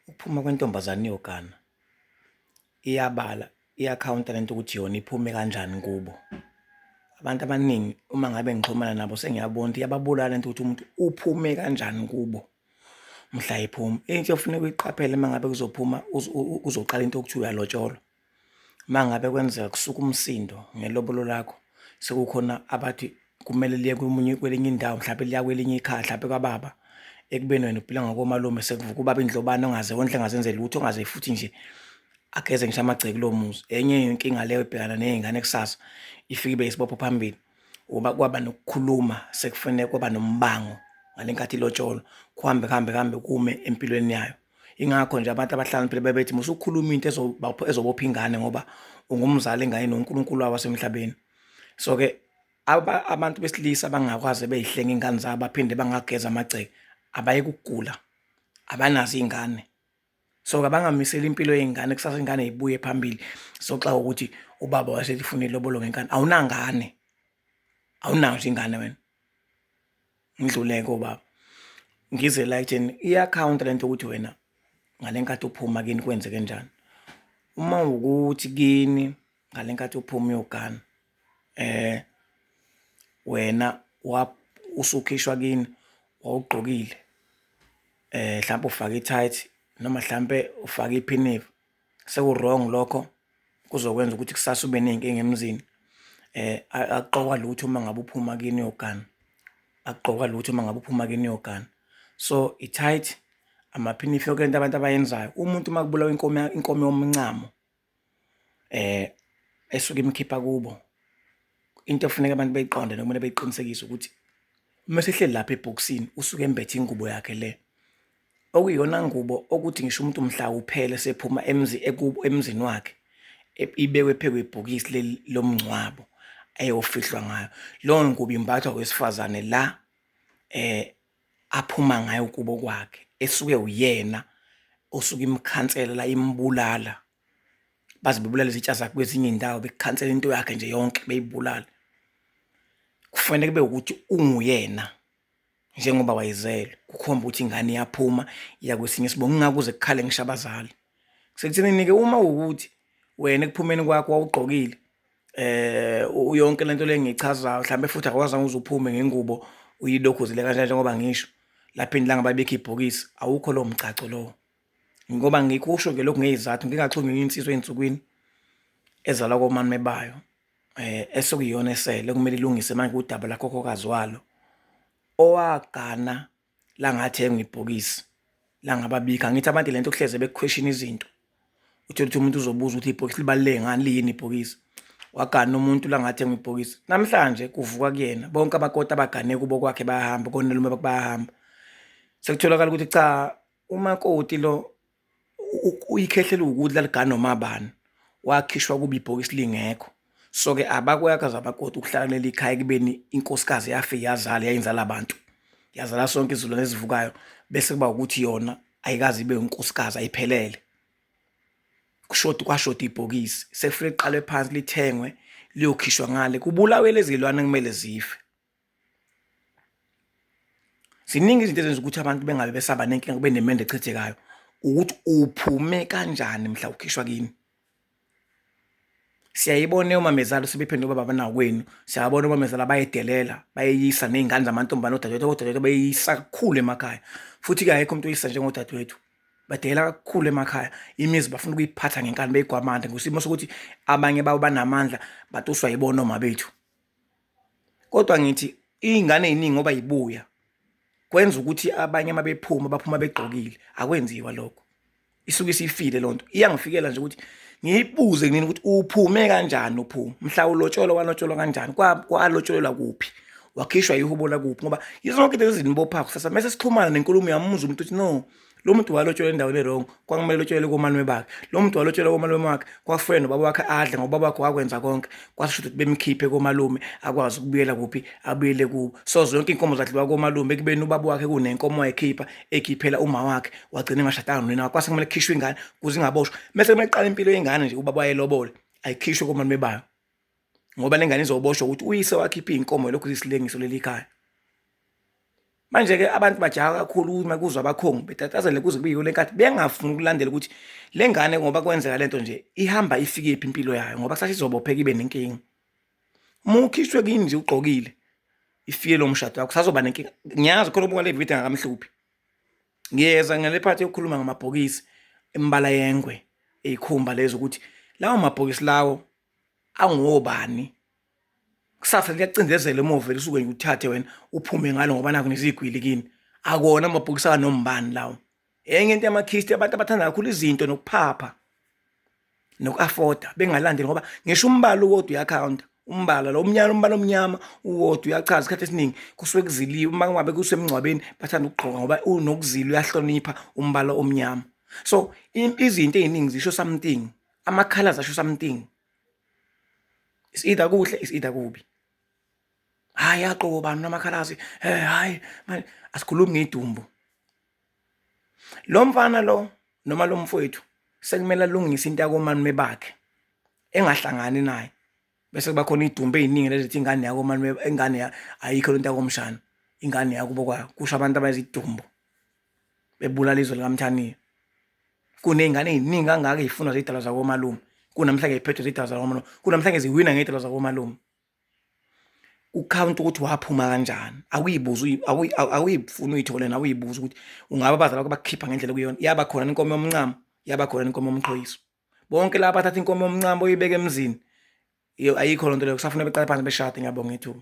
Ukuphuma kwentombazane iyogana iyabala iyakhawunta lento ukuthi yona iphume kanjani kubo. Abantu abaningi uma ngabe ngixhumana nabo sengiyabona ukuthi iyababulala into ukuthi umuntu uphume kanjani kubo mhla ephuma. Into ofuneka uyiqaphele uma ngabe kuzophuma uzoqala into okuthiwa uyalotsholwa. Uma ngabe kwenzeka kusuka umsindo ngelobolo lakho sekukhona abathi kumele liye komunye kwelinye indawo mhlawumpe liya kwelinye ikhaya mhlawumpe kwababa ekubeni wena uphila ngakomalume sekuvuka ubaba indlobane ongaze wondle engazenze lutho ongaze futhi nje ageze ngisho amagceke kulo muzi. Enye inkinga leyo ebhekana nezingane kusasa ifike ibe isibopho phambili uba kwaba nokukhuluma sekufanele kwaba nombango ngale nkathi ilotsholwa kuhambe kuhambe kuhambe kume empilweni yayo. ingakho nje abantu abahlakaniphile bebethi musukhuluma into ezobopha ingane ngoba ungumzali engane noNkulunkulu wawo wasemhlabeni so ke abantu besilisa abangakwazi beyihlenga ingane zabo baphinde bangageza amagceke abaye kugula abanazo ingane so kabangamiseli impilo yengane kusasa ingane ibuye phambili soxa ukuthi ubaba wasethi funa ilobolo ngenkani awunangane awunazo ingane wena ngidluleke obaba ngize la ekutheni i-akhawunti le nto ukuthi wena ngale nkathi uphuma kini kwenzeke njani uma ukuthi kini ngale nkathi uphuma uyogana eh wena usukhishwa kini wawugqokile eh mhlawumbe ufake i-tight noma mhlampe ufake iphinifa seku-wrong lokho kuzokwenza ukuthi kusasa ube ney'nkinga emzini um akuqokwa lutho uma ngabe uphuma kini uyogana akuqokwa lutho uma ngabe uphuma kini uyogana so i-tight amaphinifi yoke into abantu abayenzayo umuntu uma kubulawa inkomo inkomo yomncamo um esuke imkhipha kubo into efuneka abantu beyiqonde nokumele beyiqinisekise ukuthi uma sehleli lapha ebhokisini usuke embethe ingubo yakhe le okuyiyona ngubo okuthi ngisho umuntu mhla uphele sephuma emzi ekubo emzini wakhe ibekwe phezu kwebhokisi leli lomngcwabo ayofihlwa ngayo leyo ngubo imbathwa wesifazane la eh aphuma ngayo kubo kwakhe esuke uyena osuke imkhansela la imbulala baze bebulala izitsha zakhe kwezinye indawo bekhansela into yakhe nje yonke beyibulala kufanele kube ukuthi unguyena njengoba wayezelwe kukhomba ukuthi ingane iyaphuma iya kwesinye isibongo ngingakuze kukhale ngisho abazali sekuthenini-ke uma wukuthi wena ekuphumeni kwakho wawugqokile eh uyonke lento lengichazayo mhlambe futhi akwazanga uzuphume ngengubo uyilokhuzile kanjani njengoba ngisho lapha indlanga babekhipha ibhokisi awukho lo mgcaco lowo ngoba ngikusho ke lokhu ngeyizathu ngingaxhumi insizwa ezinsukwini ezalwa komame bayo eh esekuyona esele kumele ilungise manje udaba lakhokhokazi walo owagana langathenga ibhokisi langababika ngithi abantu lento kuhleze bekuquestion izinto uthole ukuthi umuntu uzobuza ukuthi ibhokisi libaluleke ngani liyini ibhokisi wagana umuntu langathenga ibhokisi namhlanje kuvuka kuyena bonke abakoti abagane kubo kwakhe bayahamba konelume bayahamba sekutholakala ukuthi cha Umakoti lo uyikhehla eliwukudla ligana noma bani wakhishwa kuba ibhokisi lingekho so ke abakweyakazi abakwoti ukuhlala kuleli khaya ekubeni inkosikazi yafike yazala yayinzala abantu yazala sonke izilwane ezivukayo bese kuba ukuthi yona ayikazi ibe unkosikazi ayiphelele kushoda kwashoda ibhokisi sekufanele liqalwe phansi lithengwe liyokhishwa ngale kubulawe lezi lwane kumele zife. ziningi izinto ezenza ukuthi abantu bengabe besaba nenkinga kube nemende echithekayo ukuthi uphume kanjani mhla ukhishwa kini siyayibona omamezala sebephendula ubaba banakwenu siyabona omamezala bayedelela bayeyisa ney'ngane zamantombane odadewethu odadewethu bayeyisa kakhulu emakhaya futhi-ke ayekho umuntu oyisa njengodadewethu badelela kakhulu emakhaya imizi bafuna ukuyiphatha ngenkani beyigwamanda ngosimo sokuthi abanye babo banamandla batuswa yibona omabethu Kodwa ngithi iy'ngane ey'ningi ngoba y'buya kwenza ukuthi abanye uma bephuma baphuma begqokile, akwenziwa lokho. Isuke isifile loo nto. Iyangifikela nje ukuthi ngiyibuze kunini ukuthi uphume kanjani uphuma. Mhla ulotsholwa walotsholwa kanjani? Kwalotsholelwa kuphi? wakhishwa ihubo lakuphi ngoba yizonke into ezinibophayo kusasa mese sixhumana nenkulumo yami umuzwe umuntu uthi no lo muntu walotshelwa endaweni erong kwakumele lotshelele komalume bakhe lo muntu walotshelwa komalume wakhe kwafuna nobaba wakhe adle ngoba ubaba wakhe wakwenza konke kwasisho ukuthi bemkhiphe komalume akwazi ukubuyela kuphi abuyele kubo so zonke iy'nkomo zadliwa komalume ekubeni ubaba wakhe kunenkomo wayekhipha ekhiphela uma wakhe wagcina engashadanga nonina wakhe kwase kumele kukhishwe ingane kuze ingaboshwa mese kumele kuqala impilo yengane nje ubaba wayelobole ayikhishwe komalume bayo ngoba lengane izoboshwa ukuthi uyise wakhipha izinkomo lokhu isilengiso leli khaya manje ke abantu bajaha kakhulu uma kuzwa abakhongi betatazele kuze kuyiyo lenkathi bengafuni ukulandela ukuthi lengane ngoba kwenzeka lento nje ihamba ifike iphi impilo yayo ngoba sathi izobopheka ibe nenkingi uma ukhishwe kini nje ugqokile ifike lo mshado wakho sazoba nenkinga ngiyazi khona ubuka le video ngakamhluphi ngiyeza ngale phathi yokukhuluma ngamabhokisi embala yengwe eyikhumba lezo ukuthi lawo mabhokisi lawo angobani kusasa liyacindezela emuva lisuke nje uthathe wena uphume ngalo ngoba naku nezigwili kini akona amabhokisi akanombani lawo enye into yamakhisti abantu abathanda kakhulu izinto nokuphapha noku-afoda bengalandeli ngoba ngisho umbala uwodwa uyakhawunta umbala lo umnyama umbala omnyama uwodwa uyachaza isikhathi esiningi kusuke kuziliwe uma kungabe kusemngcwabeni bathanda ukugqoka ngoba unokuzila uyahlonipha umbala omnyama so izinto ey'ningi zisho something Ama-colours asho something. Is either kuhle is either kubi. Hayi aqobo bani namakhalazi. Eh hayi manje asikhulumi ngedumbu. Lo mfana lo noma lo mfowethu sekumele alungise into yakomani mebakhe engahlangani naye bese kuba khona idumbe eziningi lezithi ingane yakho manje ingane ayikho lento yakomshana ingane yakubo kwa kusho abantu abayizidumbu bebulala izwe likamthaniya kuney'ngane ey'ningi kangaka ey'funwa zidalwa zakomalume kunamhlanje ziphethwe zidalwa zakomalume kunamhlanje ziwina ngey'dalwa zakomalume ukhawunti ukuthi waphuma kanjani awuyibuza awuyifuni uyithole nawe uyibuza ukuthi ungaba abazali bakho bakukhipha ngendlela okuyona yaba khona inkomo yomncamo yaba khona inkomo yomqhoyiso bonke laba bathatha inkomo yomncamo oyibeke emzini ayikho loo nto leyo kusafuna beqale phansi beshade ngiyabonga ithuba